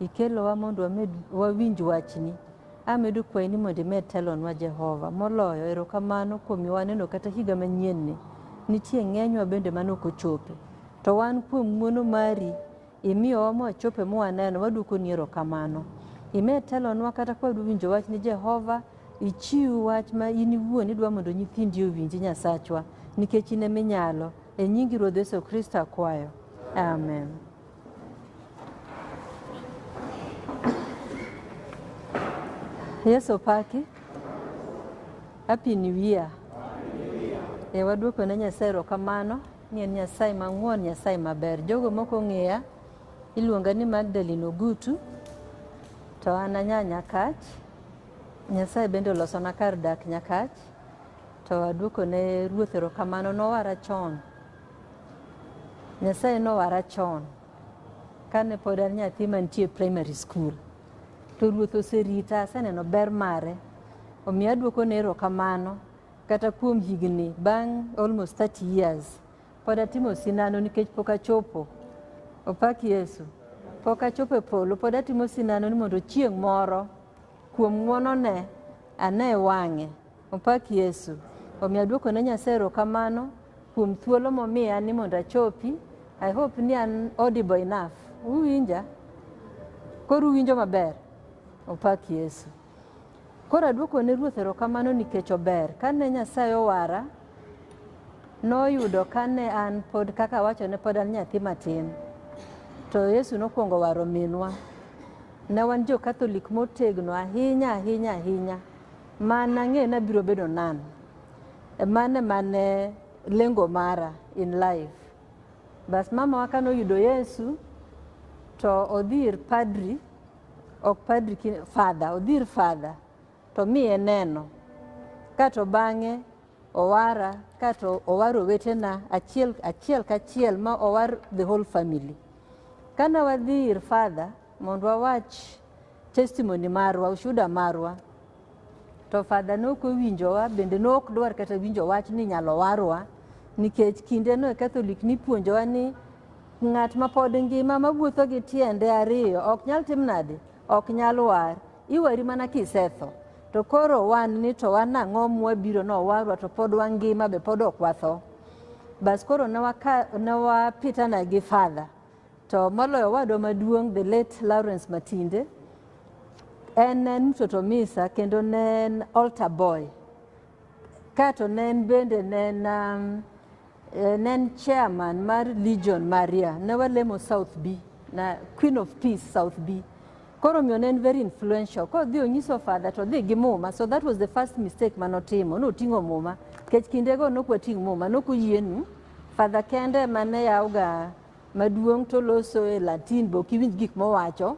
Ikelowa mondo wamed wawinj wachni. Amedo kwayi ni mondo imed telonwa Jehova. Moloyo, erokamano kuom miwa waneno kata higa manyienni. Nitie ng'enywa bende mane ok ochope. To wan kuom ng'uono mari, imiyowa mwachope mwaneno, waduokoni erokamano. Imed telonwa kata ka wadwa winjo wach ni Jehova, ichiw wach ma in iwuon idwa mondo nyithindi owinji Nyasachwa, nikech in ema inyalo. E nyingi Ruodh Yesu Kristo akwayo. Amen. Yesu opaki. Happy New Year. E waduoko ne Nyasaye erokamano ni en Nyasaye mang'won, Nyasaye maber. Jogo mok ong'eya, iluonga ni Magdalene Ogutu, to an anya Nyakach. Nyasaye bende olosona kar dak Nyakach, to aduoko ne Ruoth erokamano. Nowara chon. Nyasaye nowara chon kane pod an nyathi mantie primary school to ruoth oserita aseneno ber mare omiyo adwoko ne erokamano kata kuom higni bang' almost 30 years pod atimo sinano nikech pok achopo opak yesu pok achopo e polo pod atimo sinano ni mondo chieng' moro kuom ng'wonone ane wang'e Opak Yesu. Omiyo aduoko ne Nyasaye erokamano kuom thuolo momiya ni mondo achopi. I hope ni an audible enough. Uwinja? Koro uwinjo maber? Opak Yesu. Koro aduoko ne Ruoth erokamano nikech ober. Kane Nyasaye owara, noyudo kane an pod kaka awacho ne pod an nyathi matin. To Yesu nokwongo waro minwa. Ne wan jo Catholic motegno ahinya ahinya ahinya. Man ang'eyo ni abiro bedo nan. Mano ema ne lengo mara in life. Bas mamawa kane oyudo Yesu to odhi ir padri, ok padri, fadha, odhi ir fadha to miye neno. Kato bang'e owara, kato owaro owetena achiel achiel kachiel ma owar the whole family. Kane wadhi ir fadha mondo wawach Testimony marwa, ushuda marwa to fadha ne ok owinjowa bende ne ok dwar kata winjo wach ni inyalo warwa nikech kindeno e katholik nipuonjowa ni ng'at ma pod ngima mawuotho gi tiende ariyo ok nyal tim nade ok nyal war iwari mana kisetho to koro wan ni to wan ang'o mwabiro nowarwa to pod wangima be pod ok watho bas koro ne wapitana gi fadha To moloyo owadwa maduong' the late Lawrence Matinde en en mtoto misa kendo ne en altar boy kato ne en bende ne en um, eh, ne en chairman mar Legion Maria ne walemo South B na Queen of Peace South B koro omiyo ne en very influential koro dhi onyiso father to dhi gi muma so that was the first mistake mane otimo noting'o muma nikech kindego nok wating' muma nok oyienu father kende mane yawga maduong' to loso e Latin be ok iwinj gik mowacho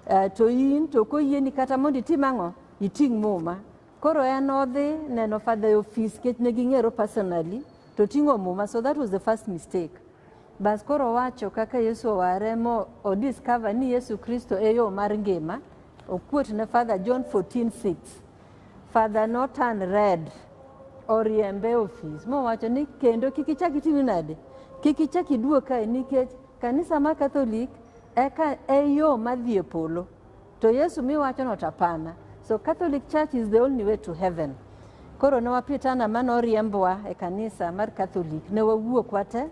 eh, to in to koyieni kata mondo itim ang'o iting' muma koro en odhi neno father e ofis nikech ne ging'ero personally to ting'o muma so that was the first mistake bas koro owacho kaka Yesu oware mo o discover ni Yesu Kristo e yo mar ngima okuot ne father John 14:6 Father no turn red oriembe ofis mowacho ni kendo kik ichak itini nade kik ichak iduog kae nikech kanisa ma katholik eka e yo madhi e polo to yesu miwachono to apana so catholic church is the only way to heaven koro ne wapitana ma noriembwa e kanisa mar catholic ne wawuok wate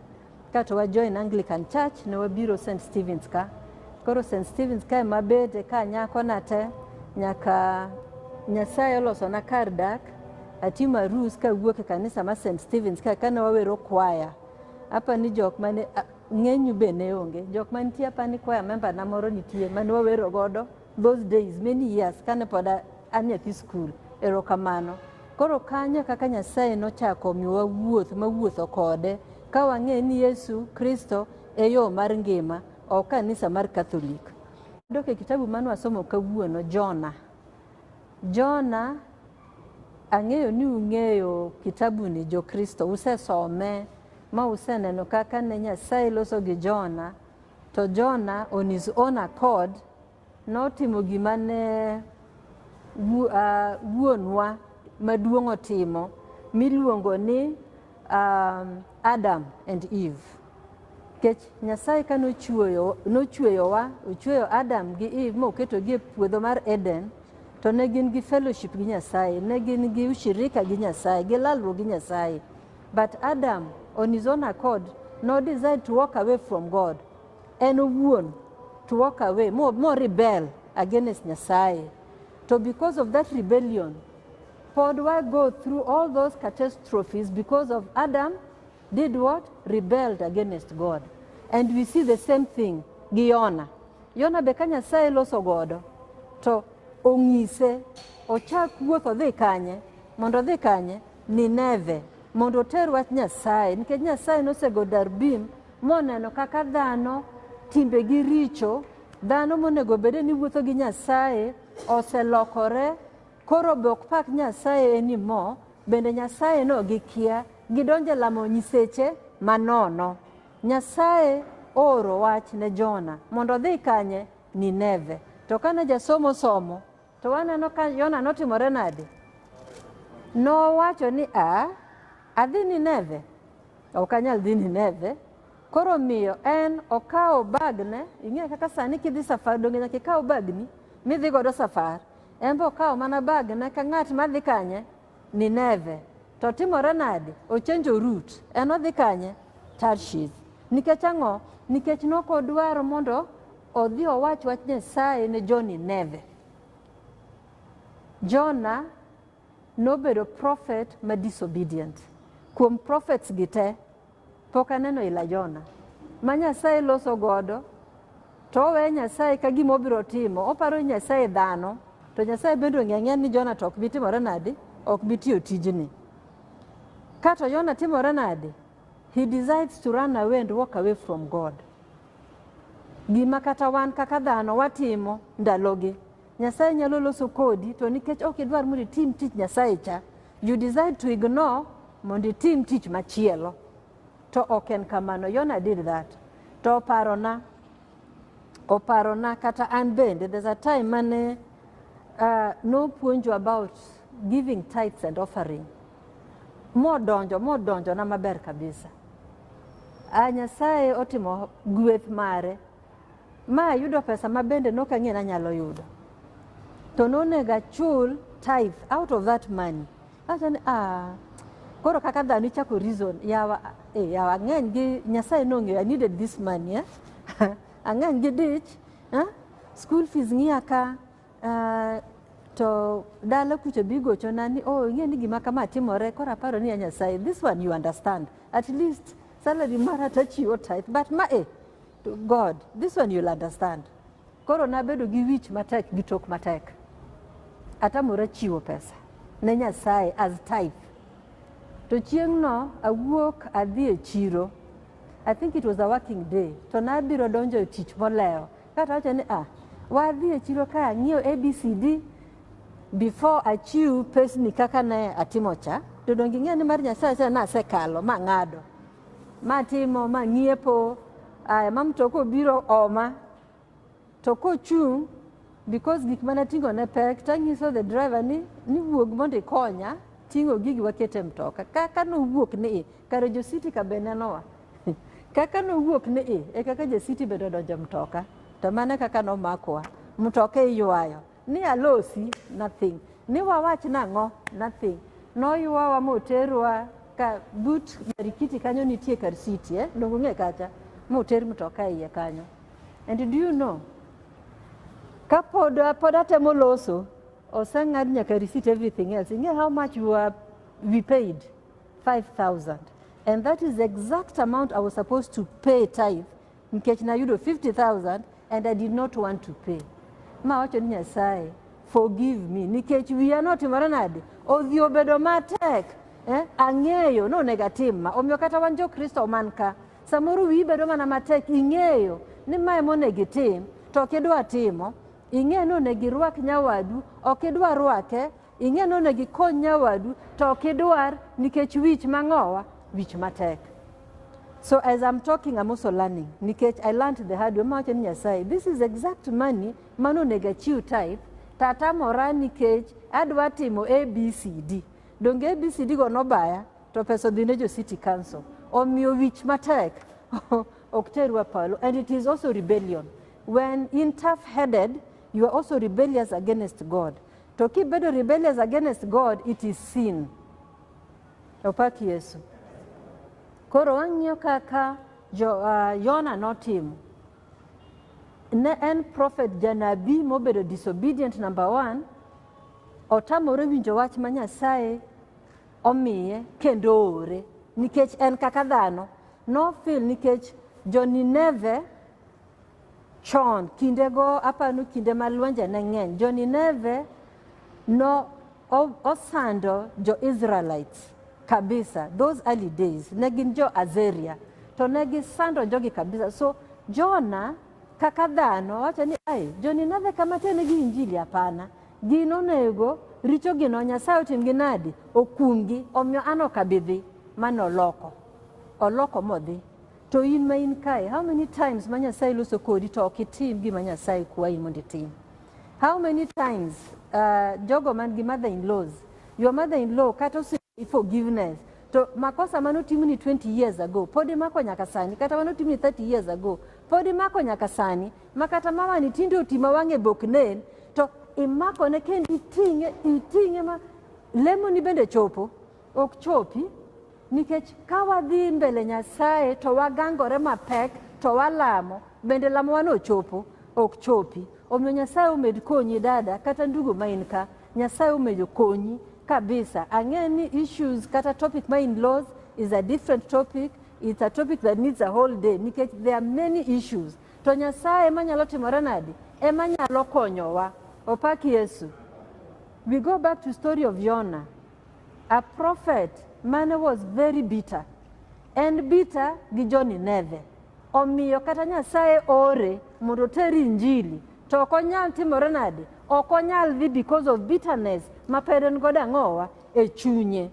Ka to wa join Anglican Church ne wabiro St. Stephen's ka. Koro St. Stephen's ka ema bede ka nyako na te nyaka Nyasaye oloso na kar dak atimo arus ka wuok e kanisa ma St. Stephen's ka kane wawero kwaya. Apa ni jok mane ng'enyu be ne onge. Jok mantie apa ni kwaya member na moro nitie mane wawero godo Those days many years kane pod a- an nyathi skul. Erokamano. Koro kanyo e kaka Nyasaye nochako omiyowa wuoth mawuotho kode ka wang'eyo ni Yesu Kristo e yo mar ngima, ok kanisa mar Katholik. Dok e kitabu mane wasomo kawuono, Jona. Jona, ang'eyo ni ung'eyo kitabuni jo Kristo, usesome ma useneno kaka ne Nyasaye loso gi Jona To Jona on his own accord notimo gima ne wu- ah, wuonwa maduong' otimo miluongo ni um, Adam and Eve. Kech Nyasaye ka nochueyo nochueyowa, ochueyo Adam gi Eve moketogi e puodho mar Eden, to ne gin gi fellowship gi Nyasaye, ne gin gi ushirika gi Nyasaye, gi lalruok gi Nyasaye. But Adam on his own accord no decide to walk away from God. En owuon to walk away, more, more rebel against Nyasaye. So because of that rebellion, pod why go through all those catastrophes because of Adam did what? Rebelled against God. And we see the same thing gi Yona. Yona be ka Nyasaye loso godo to ong'ise ochak wuoth odhi kanye mondo odhi kanye Nineve mondo oter wach Nyasaye, nikech Nyasaye nosego Darbim moneno kaka dhano timbegi richo, dhano monego obede ni wuotho gi Nyasaye oselokore, koro be ok pak Nyasaye eni mo, bende Nyasaye no gikia, gidonje lamo nyiseche manono. Nyasaye ooro wach ne Jona mondo odhi kanye? Nineve. To kane jasomo somo To waneno ka Yona notimore nade? Nowacho ni a adhi Nineve, ok anyal dhi Nineve. Koro miyo en okawo bagne, ing'eyo kaka sani kidhi safar donge nyaka ikaw bagni midhi godo safar. En be okawo mana bagne ka ng'at madhi kanye Nineve. To timore nade? Ochenjo Rut. En odhi kanye? Tarshish. Nikech ang'o? Nikech nok odwaro mondo odhi owach wach Nyasaye ne jo Nineve. Jona nobedo prophet ma disobedient. Kuom prophets gi te, Pok aneno ila Jona ma Nyasaye loso godo to oweyo Nyasaye ka gima obiro timo, oparo ni Nyasaye dhano, to Nyasaye bende ong'e ang'eya ni Jona to ok bi timore nadi, ok bi tiyo tijni. Kato Jona timore nadi? He decides to run away and walk away from God. Gima kata wan kaka dhano watimo ndalogi. Nyasaye nyalo loso kodi to nikech ok idwar mondo itim tich Nyasaye cha, you decide to ignore mondo itim tich machielo. To ok en kamano. Yona did that. To oparona, oparona kata an bende, there's a time mane uh, nopuonjo about giving tithes and offering. Modonjo, modonjo na maber kabisa. A ah, Nyasaye otimo gweth mare. Ma ayudo pesa ma bende nok ang'e ni anyalo yudo. To nonego achul tithe out of that money. Acha ni ah koro kaka dhano ichako reason yawa eh, yawa ang'eny gi Nyasaye nong'eyo I needed this money eh? ang'eny gi dich eh? school fees ng'iya ka uh, to dala kucho bigochona ni oh ing'e ni gima kama timore koro aparo ni ya Nyasaye this one you understand at least salary mara tachiwo tithe but ma eh To God, this one you'll understand. Koro nabedo gi wich matek gi tok matek. Atamora chiwo pesa ne Nyasaye as tithe. To chieng'no awuok adhi e chiro. I think it was a working day. To nabiro donjo e tich molewo. Kata wacho ni ah, wadhi e chiro ka ang'iew ABCD before achiw pesni kaka ne atimo cha. To donge ing'eyo ni mar Nyasaye asekalo ma ng'ado. Ma timo, ma ng'iepo, aya ma mtoka obiro oma to kochung' because gik mana ting'o ne pek tanyiso the driver ni ni wuog mondo ikonya ting'o gigi wakete mtoka kaka nowuok ni i kare jositi ka be nenowa kaka nowuok ni i e kaka jasiti bende odonjo mtoka to mane kaka nomakwa mtoka iywayo Ni alosi nothing. Ni wawach nang'o nothing. Noywawa moterwa ka but Marikiti kanyo nitie kar city eh? Dongo ng'e kacha moter mtoka iye kanyo. And do you know ka pod pod atemo loso oseng'ad nyaka receipt everything else. Ing'e how much you are we paid 5000 and that is the exact amount I was supposed to pay tithe Nikech nayudo 50,000 and I did not want to pay. Ma wacho ni Nyasaye, forgive me nikech wiya notimore nade? Odhi obedo matek. Eh? Ang'eyo no onego atim ma. Omiyo kata wan jo Kristo man ka, samoro wiyi bedo mana matek, ing'eyo ni ma ema onego itim to ok idwa timo ing'e ni onego irwak nyawadu ok idwa rwake Ing'e ni onego ikony nyawadu to ok idwar nikech wich mang'owa, wich matek. So as I'm talking, I'm also learning nikech I learned the hard way. Mawacho ni Nyasaye, this is exact money mano onego achiw tithe to atamora nikech adwa timo ABCD. Donge ABCD go nobaya to pesa odhi ne jo city council. Omiyo wich matek ok terwa palo and it is also rebellion. When in tough headed, you are also rebellious against God. To kibedo rebellious against God, it is sin. Opak Yesu. Koro wang'iyo kaka jo, uh, Yona notimo. Ne en prophet janabi mobedo disobedient number one, otamore winjo wach ma Nyasaye omiye kendo oore nikech en kaka dhano nofil nikech jo Nineve Chon, kindego apanu kinde ma lwenje ne ng'eny, jo-Nineve no o- osando jo-Israelites kabisa. Those early days, ne gin jo-Azeria, to ne gisando jogi kabisa. So, Jona kaka dhano wacho ni, ai, jo-Nineve kama ternegi injili apana. Gin onego richogi no Nyasaye otimgi nadi? Okumgi. Omiyo an ok abi dhi. Mane oloko. Oloko modhi. To in ma in kae, how many times ma Nyasaye loso kodi to ok itim gima Nyasaye kwayi mondo itim? How many times uh, jogo man gi mother in laws, your mother in law kata osimi forgiveness to makosa mane otimni 20 years ago pod imako nyaka sani kata mane otimni 30 years ago pod imako nyaka sani ma kata mamani tinde oti ma wang'e bok nen to imakone kendo iting'e iting'e ma lemoni bende chopo ok chopi Nikech ka wadhi mbele Nyasaye to wagangore mapek to walamo, bende lamowa nochopo? Ok chopi. Omiyo Nyasaye omed konyi dada kata ndugu ma in ka. Nyasaye omedo konyi kabisa. Ang'e ni issues kata topic ma in laws is a different topic. It's a topic that needs a whole day nikech there are many issues. To Nyasaye ema nyalo timore nadi? Ema nyalo konyowa. Opak Yesu. We go back to story of Yona. A prophet mane was very bitter. En bitter gi jo Nineve. Omiyo kata Nyasaye ore mondo oter injili to ok onyal timore nade? Ok onyal dhi because of bitterness ma pod en godo ang'owa e chunye.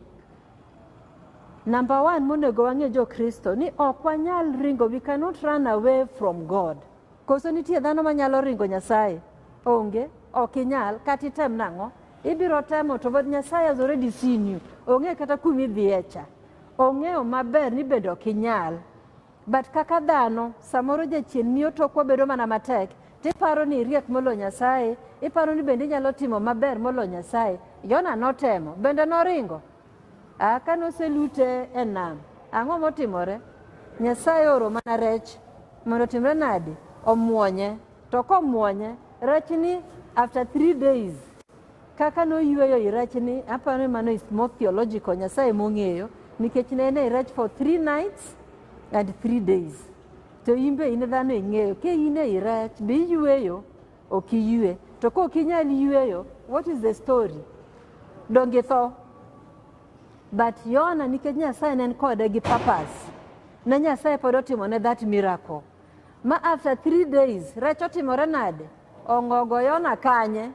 Number one monego wang'e jo Kristo ni ok wanyal ringo, we cannot run away from God. Koso nitie dhano manyalo ringo Nyasaye? Onge, ok inyal, kata item nang'o. Ibiro temo to but Nyasaye has already seen you. Ong'e kata kuma idhiye cha. Ong'eyo maber ni bende ok inyal. But kaka dhano, samoro jachien miyo tokwa bedo mana matek. Tiparo ni iriek molo Nyasaye. Iparo ni bende inyalo timo maber molo Nyasaye. Yona notemo. Bende noringo. Ah, ka noselute e nam. Ang'o motimore? Nyasaye oro mana rech. Mondo timre nadi? Omwonye. To komwonye, rachni after three days kaka noyueyo i rachni, aparo ni mano is more theological, Nyasaye mong'eyo nikech ne en e rach for three nights and three days. To in be in dhano ing'eyo, ka in e i rach be iyueyo, ok iyue. To ka ok inyal yueyo, what is the story? Donge tho? But Yona nikech Nyasaye ne en kode gi purpose, ne Nyasaye pod otimone that miracle. Ma after three days, rech otimore nade? Ongogo yona kanye?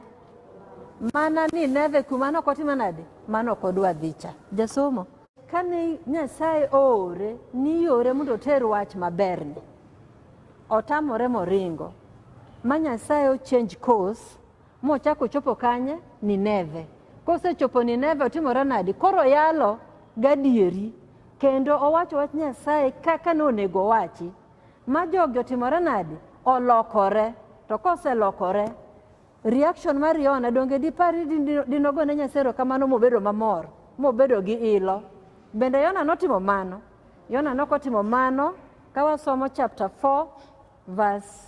Mana ni neve kuma no kotime nade? Mano kodwa dhicha. Jasomo. Kane Nyasaye oore ni yore mondo oter wach maberni, otamore moringo. Ma Nyasaye o change course Mochako ochopo kanye? Nineve. Kosechopo Nineve otimore nadi? Koro yalo gadieri kendo owacho wach Nyasaye kaka nonego owachi. Ma jogi otimore nadi? Olokore. To koselokore, reaction mar Yona donge dipari dinogone Nyasaye erokamano mobedo mamor, mobedo gi ilo. Bende Yona notimo mano? Yona nokotimo mano ka wasomo chapter 4 verse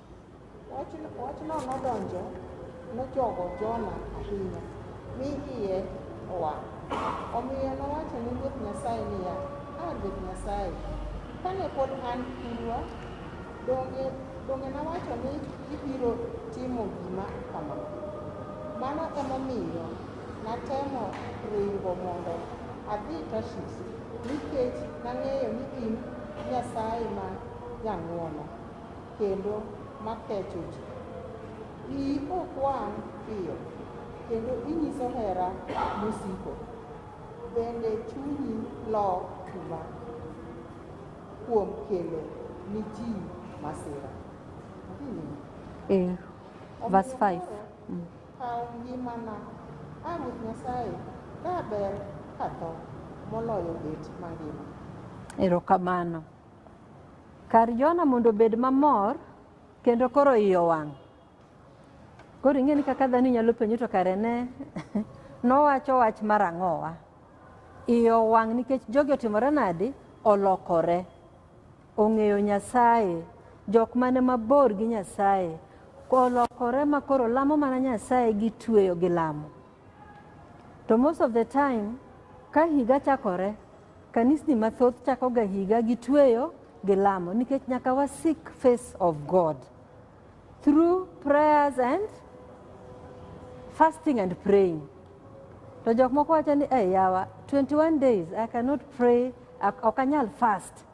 Wachno nodonjo nochogo Jona ahinya, mi iye owang'. Omiyo nowacho ni Ruoth Nyasaye niya, A Ruoth Nyasaye, kane pod an thurwa, donge, donge nawacho ni ibiro timo gima kama? Mano emomiyo natemo ringo mondo adhi Tarshish, nikech nang'eyo ni in Nyasaye ma jang'wono. kendo ma kecho ji. Iyi ok wang' piyo, kendo inyiso hera mosiko, bende chunyi lok chuma kuom kelo ni ji masira. Eh, verse 5. Mm. Kaw ngimana, a Ruoth Nyasaye, ka ber katho moloyo bet mangima. Erokamano. Kar Jona mondo obed mamor kendo koro iye owang'. Koro ing'e ni kaka dhano inyalo penjo to kare ne nowacho wach mar ang'owa. Iye owang' nikech jogi otimore nadi? Olokore. Ong'eyo Nyasaye. Jok mane mabor gi Nyasaye. Olokore ma koro lamo mana Nyasaye gitweyo gi lamo. To most of the time ka higa chakore, kanisni mathoth chakoga higa gi tweyo gi lamo nikech nyaka wa seek face of God through prayers and fasting and praying. To jok moko wacho ni eh yawa 21 days I cannot pray ok anyal fast.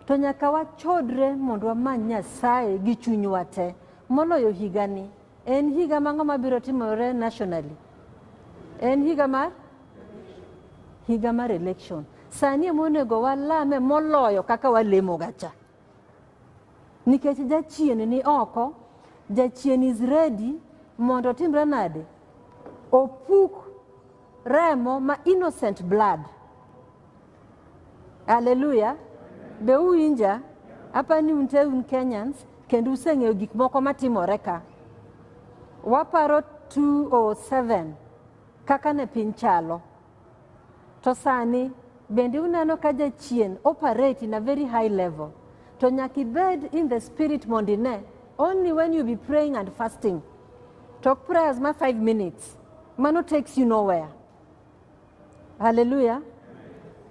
To nyaka wachodre mondo wamany Nyasaye gi chunywa te moloyo higani En higa mang'o mabiro timore nationally? En higa mar higa mar election. Sani ema onego walame moloyo kaka walemoga cha, nikech jachien ni oko, jachien is ready mondo otimre nade? Opuk remo ma innocent blood Haleluya. Be uwinja? Apa ni unte un Kenyans kendo useng'eyo gik moko matimore ka. Waparo 207 kaka ne piny chalo. To sani bende uneno ka jachien operate in a very high level. To nyaka ibed in the spirit mondo ine. Only when you be praying and fasting. Talk prayers ma 5 minutes. Mano takes you nowhere. Haleluya.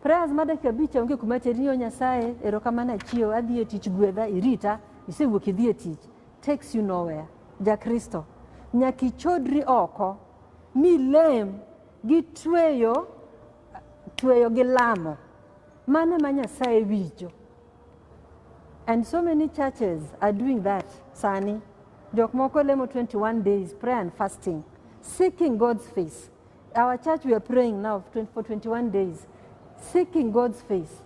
Prayers ma dakika abich onge kuma teri ni Nyasaye erokamano achiew adhi e tich gwedha irita isewuok idhi e tich takes you nowhere. Ja Kristo nyaka ichodri oko mi lem gi tweyo tweyo gi lamo mano ma Nyasaye winjo. And so many churches are doing that sani. Jok moko lemo 21 days prayer and fasting seeking God's face. Our church we are praying now for 21 days seeking God's face.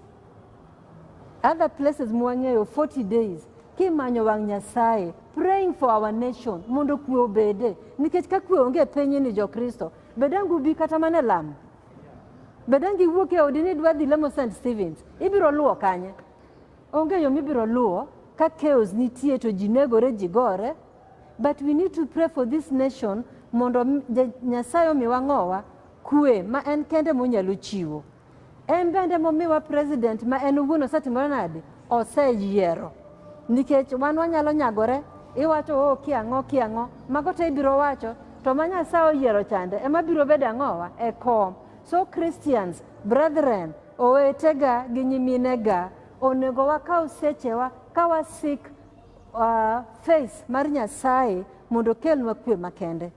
Other places mwang'eyo 40 days kimanyo wang' Nyasaye praying for our nation mondo kwe obede nikech ka kwe onge piny ni jokristo bedangu bi kata mana e lamo bedangi wuok e odi ni dwa dhi lamo st stevens ibiro luwo kanye onge yo mibiro luwo ka chaos nitie to ji negore ji gore But we need to pray for this nation mondo Nyasaye omiwa ng'owa kwe ma en kende monyalo chiwo. En bende momiwa president ma en owuon osetimore nade? Oseyiero. Nikech wan wanyalo nyagore, iwacho oo oh, kiang'o kiang'o, mago te ibiro wacho, to ma Nyasaye oyiero chande ema biro bedo ang'owa e kom. So Christians, brethren, owetega gi nyiminega, onego wakaw sechewa ka wasik uh, faith mar Nyasaye mondo okelnwa kwe makende.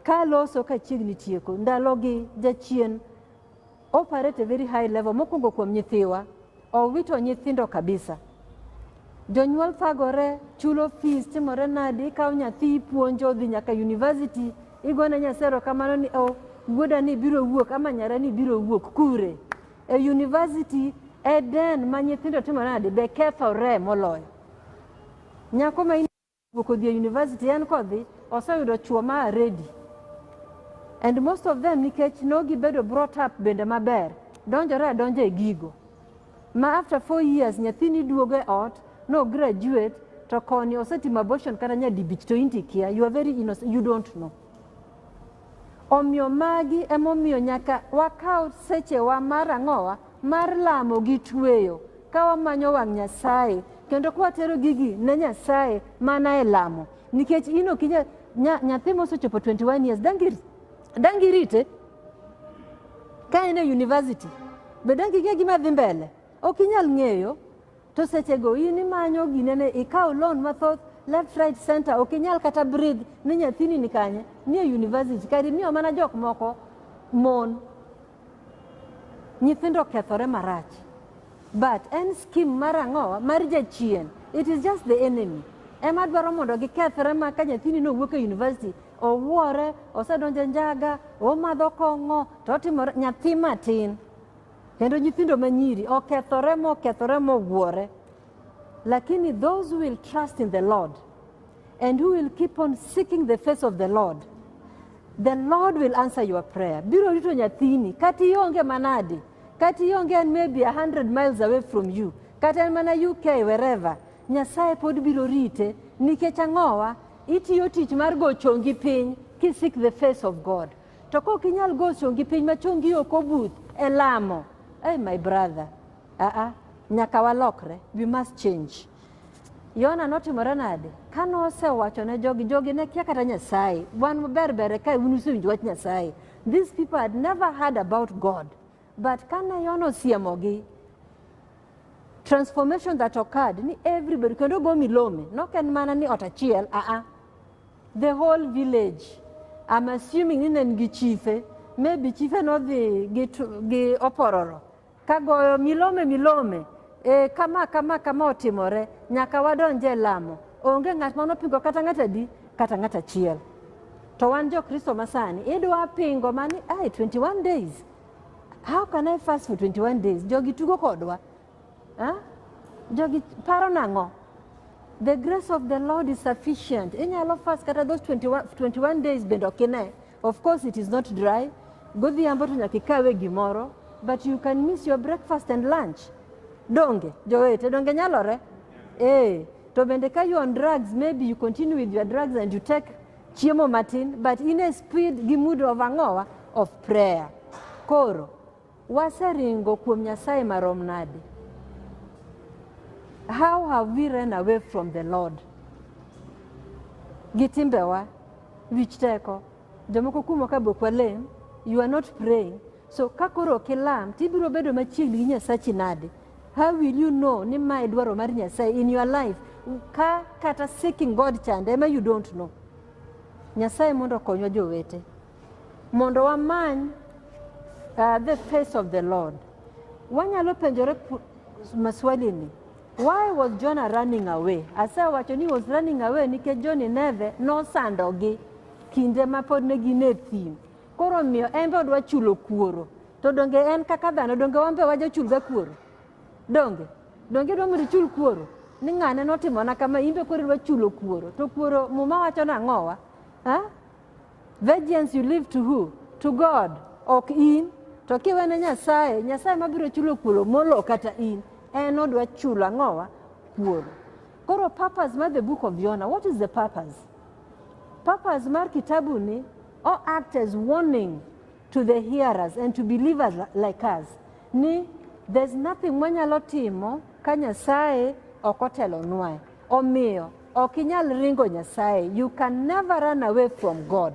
Ka loso ka chiegni tieko ndalogi jachien operate a very high level mokwongo kuom nyithiwa owito nyithindo kabisa jonyuol thagore chulo fees timore nadi ikawo nyathi ipuonjo dhi nyaka university igone nyasero kamano ni o oh, wuoda ni biro wuok ama nyara ni biro wuok kure E university Eden ma nyithindo timo nade be kethore moloyo. Nyako ma iwuok odhi e university en kodhi oseyudo chuo ma aredi. And most of them nikech nogi bedo brought up bende maber donjore adonja e gigo. Ma after four years nyathini duogo e ot no graduate to koni osetimo abortion kata nyadibich to inti kia you are very innocent you don't know. Omiyo magi emomiyo nyaka wakaw sechewa mar ang'owa mar lamo gi tweyo ka wamanyo wang' Nyasaye kendo ka watero gigi ne Nyasaye mana e lamo nikech in ok inya nya, nyathi mosechopo 21 years dangi dangi rite ka en e university be dangi ng'e gima dhi mbele ok inyal ng'eyo To sechego in imanyo ginene ikaw loan mathoth left right center ok inyal kata breathe ni nyathini ni kanye nie university kari miyo mana jok moko mon nyithindo kethore marach but en skim mar ang'owa mar jachien it is just the enemy ema dwaro mondo gikethre ma ka nyathini nowuok e university owuore osedonje njaga omadho kong'o to otimore nyathi matin Kendo nyithindo ma nyiri okethore mokethore mowuore. Lakini those who will trust in the Lord and who will keep on seeking the face of the Lord, the Lord will answer your prayer. Biro rito nyathini, kati ionge manadi, kati ionge en maybe 100 miles away from you, kata en mana UK wherever, Nyasaye pod biro rite nikech ang'owa itiyo tich mar go chongi piny kisik the face of God. To kok inyal go chongi piny ma chongi ok obuth e lamo. Hey, my brother. Ah, uh ah. -uh. Nyaka walokre. We must change. Yona notimore nade? Ka nosewacho ne jogi, jogi ne kia kata Nyasaye. Wan maber ber ka un usewinjo wach Nyasaye. These people had never heard about God. But kane Yona osiemogi, transformation that occurred ni everybody kendo go milome nok en mana ni ot achiel aa uh-uh. the whole village I'm assuming ni ne nigi chife maybe chife nodhi gi, gi opororo kagoyo milome milome e, kama kama kama otimore nyaka wadonje lamo onge ng'at ma nopingo kata ng'at adi kata ng'at achiel To wan jo Kristo masani idwa pingo mani ai 21 days. How can I fast for 21 days? Jogi tugo kodwa. Huh? Jogi paro nang'o? The grace of the Lord is sufficient. Inyalo fast kata those 21, 21 days bende ok ine. Of course it is not dry. Godhiambo to nyaka ikawe gimoro but you can miss your breakfast and lunch. Donge jowete donge nyalore? Eh, to bende ka you on drugs maybe you continue with your drugs and you take Chiemo matin but in a speed gi mood of ang'owa of prayer. Koro waseringo kuom Nyasaye marom nade? How have we run away from the Lord? Gi timbewa, wich teko, jomoko kumo ka bok walem, you are not praying. So ka koro ok ilam, tibiro bedo machiegni gi Nyasachi nade? How will you know ni ma e dwaro mar Nyasaye in your life ka kata seeking God chande ema you don't know. Nyasaye mondo okonywa jowete mondo wamany uh, the face of the Lord. Wanyalo penjore maswali ni why was Jonah running away? Asewacho ni was running away nikech jo Nineve nosandogi kinde ma pod ne gin e thim. Koro omiyo en be odwa chulo kuoro. To donge en kaka dhano, donge wan be wajochulga kuoro? Donge? Donge idwa mondo ichul kuoro? Ni ng'ane notimona kama, in be koro idwa chulo kuoro. To kuoro muma wacho nang'owa? Ha? Vengeance you leave to who? To God, ok in. To kiwene Nyasaye, Nyasaye mabiro chulo kuoro molo kata in. En odwa chulo ang'owa? Kuoro. Koro purpose mar the book of Jonah, what is the purpose? Purpose mar kitabuni Or act as warning to the hearers and to believers like us ni there's nothing mwanyalo timo ka Nyasaye ok otelonwae. Omiyo ok inyal ringo Nyasaye. You can never run away from God.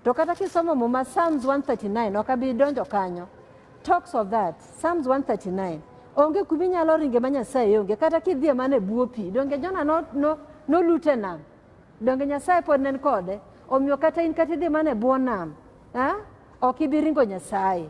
To kata kisomo muma Psalms 139 ok abi donjo kanyo. Talks of that. Psalms 139. Onge kuma inyalo ringe ma Nyasaye onge. Kata kidhie mana e bwo pi. Donge Jona no, no, nolute nam. Donge Nyasaye pod nen kode? Omiyo kata in kata idhi mana e bwo nam, eh? ok ibi ringo Nyasaye.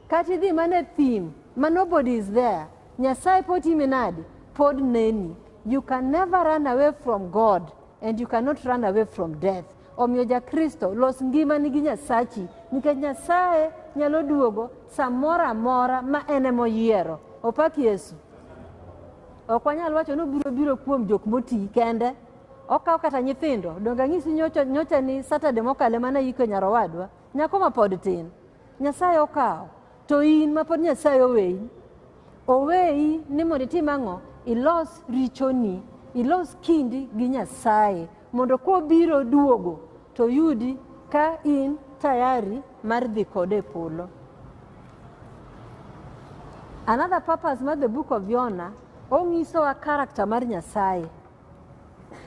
Kata idhi mana e thim, ma nobody is there, Nyasaye pod timi nadi? Pod neni. You can never run away from God and you cannot run away from death. Omiyo ja Kristo, los ngimani gi Nyasachi, nikech Nyasaye nyalo duogo samoro amora ma en ema oyiero. Opak Yesu. Ok wanyal wacho ni obiro biro kuom jok moti kende. Okawo kata nyithindo. Donge ang'isi nyocha, nyocha ni Saturday mokalo ema nayiko nyar owadwa. Nyako ma pod tin. Nyasaye okawo. To in ma pod Nyasaye oweyi. Oweyi ni mondo itim ang'o? Ilos richoni. Ilos kindi gi Nyasaye. Mondo kobiro duogo to yudi ka in tayari mar dhi kode e polo. Another purpose mar the book of Yona, ong'isowa character mar Nyasaye.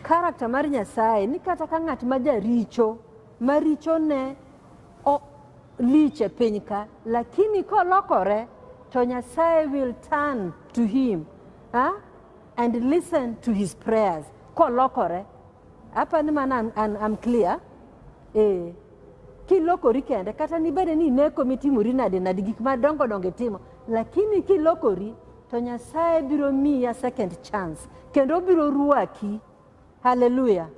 Karakta mar Nyasaye ni kata ka ng'at ma jaricho ma richone lich e piny ka, lakini kolokore to Nyasaye will turn to him ha? and listen to his prayers kolokore. Apa ni mana I'm, I'm clear? Eh. Kilokori kende kata nibede ni ineko mitimori nade nade gik madongo dongo itimo lakini kilokori To Nyasaye biro miya second chance kendo obiro ruaki. Hallelujah.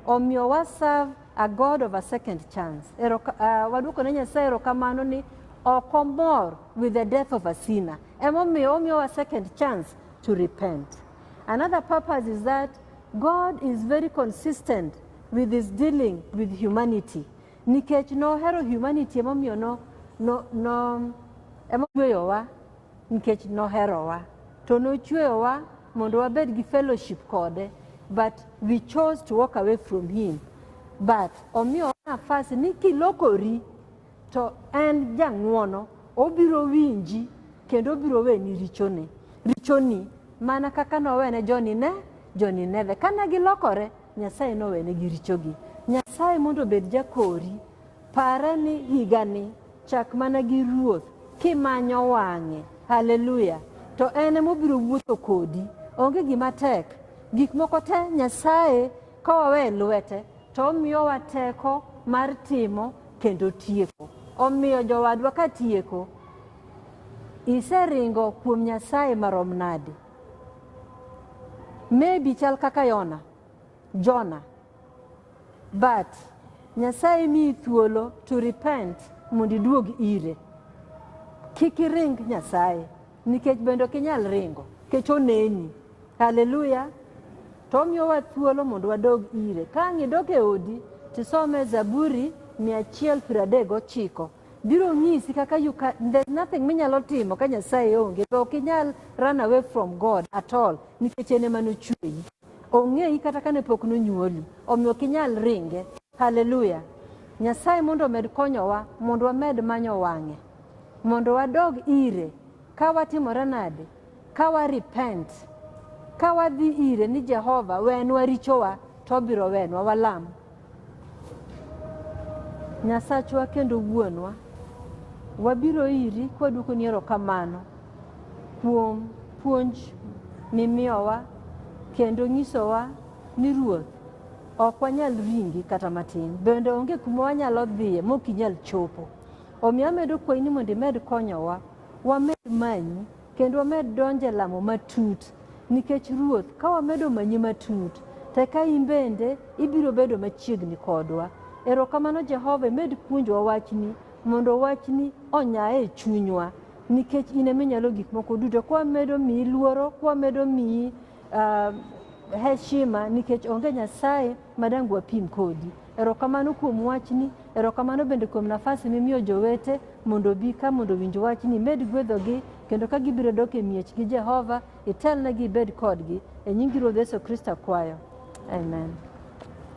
Omiyo wa serve a God of a second chance. Ero, uh, waduoko ne Nyasaye erokamano ni ok omor with the death of a sinner. Emomiyo omiyo wa second chance to repent. Another purpose is that God is very consistent with his dealing with humanity. Nikech nohero humanity emomiyo no no no emoyweyowa Nikech noherowa to nochweyowa mondo wabed gi fellowship kode but we chose to walk away from him but omiyowa nafas ni kilokori to en jang'wono obiro winji kendo obiro weni richoni richoni mana kaka nowene joni ne joni neve kane gilokore Nyasaye nowenegi richogi. Nyasaye mondo obed jakori. Pare ni higani chak mana gi ruoth kimanyo wang'e. Haleluya! To en ema obiro wuotho kodi. Onge gima tek. Gik moko te Nyasaye ka wawe lwete to omiyowa teko mar timo kendo tieko. Omiyo jowadwa ka tieko, iseringo kuom Nyasaye marom nade? Maybe chal kaka Yona, Jona. But Nyasaye miyi thuolo to repent mondo iduog ire. Kik iring Nyasaye nikech bende ok inyal ringo nikech oneni. Haleluya. To omiyowa thuolo mondo wadog ire. Ka ang' idog e odi tisome Zaburi 139. biro nyisi kaka you can, there's nothing minyalo timo ka Nyasaye onge to ok inyal run away from God at all nikech en ema nochueyi ong'eyi kata kane pok nonyuoli omiyo ok inyal ringe haleluya Nyasaye mondo omed konyowa mondo wamed manyo wang'e mondo wadog ire ka watimore nade Ka wa repent, ka wadhi ire ni Jehova wenwa richowa to obiro wenwa walam. Nyasachwa kendo wuonwa, wabiro iri kwaduoko ni erokamano kuom puonj mimiyowa kendo nyisowa ni Ruoth ok wanyal ringi kata matin, bende onge kuma wanyalo dhiye mok inyal chopo. Omiyo amedo kwayi ni mondo imed konyowa wamed manyi Kendo wamed donjo e lamo matut nikech Ruoth, ka wamedo manyi matut, to eka in bende ibiro bedo machiegni kodwa. Erokamano Jehova, imed puonjowa wachni mondo wachni onyae e chunywa nikech in ema inyalo gik moko duto. Kwa medo miyi luoro, kwa medo miyi Uh, heshima nikech onge Nyasaye madang wapim kodi. Erokamano kuom wachni, erokamano bende kuom nafasi mimiyo jowete mondo obi ka mondo owinj wachni, imed gwedhogi kendo ka gibiro dok e miechgi Jehova, itelnegi ibed kodgi. E nyingi Ruoth Yesu Kristo akwayo. Amen.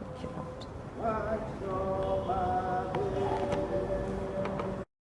Thank you, Lord.